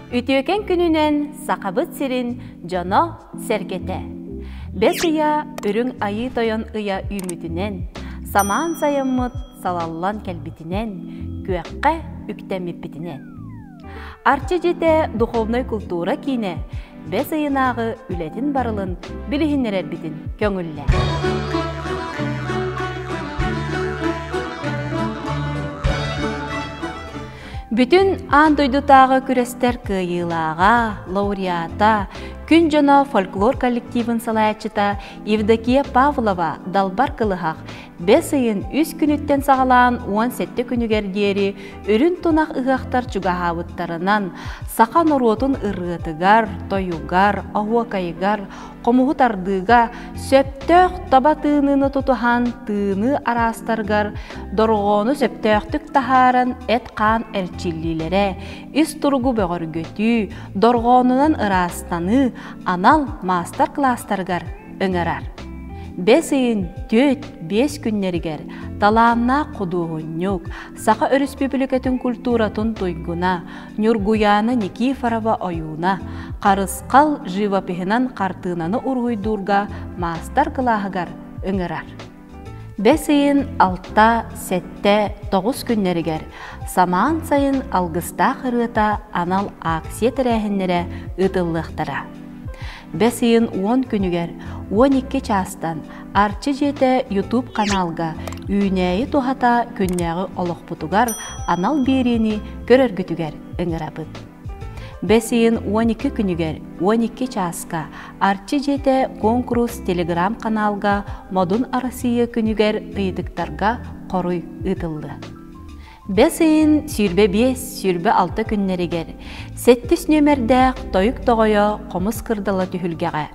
Үтүөкэн күнүнэн Сахабыт сирин дьоно сэргэтэ! Бэс ыйа Үрүҥ Айыы Тойон ыйа үүммүтүнэн, самаан сайаммыт салаллан кэлбитинэн, күөххэ үктэммиппитинэн. Арчы дьитэ духовнай култуура киинэ бэс ыйынааҕы үлэтин барылын билиһиннэрэрбитин көҥүллэр. Бүтүн аан дойдутааҕы күрэстэр кыайыылааҕа, лауреата, күн дьоно фольклор коллективын салайаччыта Евдокия Павлова далбар кылыһах Бэс ыйын үс күнүттэн саҕалаан уон сэттэ күнүгэр диэри үрүн тунах ыһыахтар чугаһаабыттарынан, саха норуотун ырыатыгар, тойугар, оһуокайыгар, хомуһу тардыыга, сөптөөх таба тыыныыны тутуһан тыыныы араастарыгар дорҕоону сөптөөхтүк таһааран эт-хаан эрчиллиилэрэ, ис туругу бөҕөргөтүү, дорҕоонунан ыраастаныы анал маастар-кылаастарыгар ыҥырар. Бэс ыйын түөрт-биэс күннэригэр талааннаах худуоһунньук, Саха Өрөспүүбүлүкэтин культуратын туйгуна Ньургуйаана Никифорова ойууна Харысхал живопиһынан хартыынаны уруһуйдуурга маастар-кылааһыгар ыҥырар. Бэс ыйын алта, сэттэ, тоҕус күннэригэр самаан сайын алгыстаах ырыата анал ааксыйа тэрээһиннэрэ ыытыллыахтара. Бэс ыйын уон күнүгэр уон икки чаастан Арчы дьиэтэ YouTube ханаалга Үүнээйи туһата күннээҕи олохпутугар анал биэриини көрөргүтүгэр ыҥырабыт. Бэс ыйын уон икки күнүгэр уон икки чааска Арчы дьиэтэ куонкурус телеграм-ханаалга Модун Арассыыйа күнүгэр ыйытыктарга хоруй ыытыллыа. Бэс ыйын сүүрбэ биэс, сүүрбэ алта күннэригэр сэттис нүөмэрдээх Тойук Тоҕойо хомус кырдала түһүлгэҕэ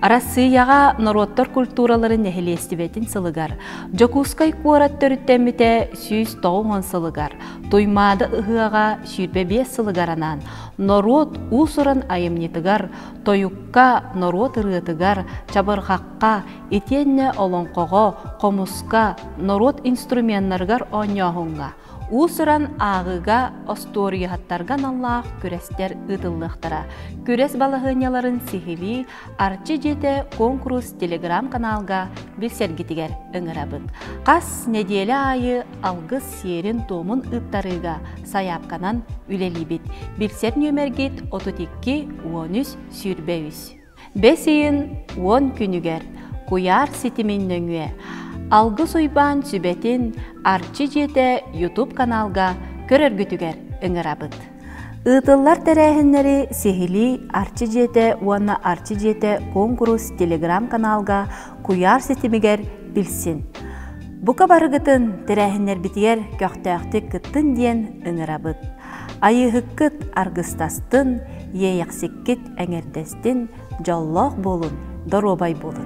Арассыыйаҕа норуоттар культураларын нэһилиэстибэтин сылыгар Дьокуускай куорат төрүттэммитэ сүүс тоҕус уон сылыгар Туймаада ыһыаҕа сүүрбэ биэс сылыгар анаан норуот уус-уран айымньытыгар, тойукка, норуот ырыатыгар, чабырҕахха, итиэннэ олоҥхоҕо, хомуска, норуот инструменнарыгар оонньооһуҥҥа, уус-уран ааҕыыга, остуоруйаһыттарга аналлаах күрэстэр ыытыллыахтара. Күрэс балаһыанньаларын сиһилии Арчы дьиэтэ конкурс телеграм-каналга билсэргитигэр ыҥырабыт. Хас нэдиэлэ аайы алгыс сиэрин-туомун ыыттарыыга сайаапканан үлэлиибит. Билсэр нүөмэргит 32 13 сүүрбэбис. Бэс ыйын уон күнүгэр куйаар ситимин нөҥүө Алгыс Уйбаан сүбэтин Арчы дьиэтэ YouTube каналга көрөргүтүгэр ыҥырабыт. Ыытыллар тэрээһиннэри сиһилии Арчы дьиэтэ уонна Арчы дьиэтэ куонкурус телеграм-каналга куйаар ситимигэр билсин. Бука барыгытын тэрээһиннэрбитигэр көхтөөхтүк кыттын диэн ыҥырабыт. Айыыһыккыт аргыстастын, иэйэхсиккит эҥэрдэстин, дьоллоох буолун, доруобай буолун.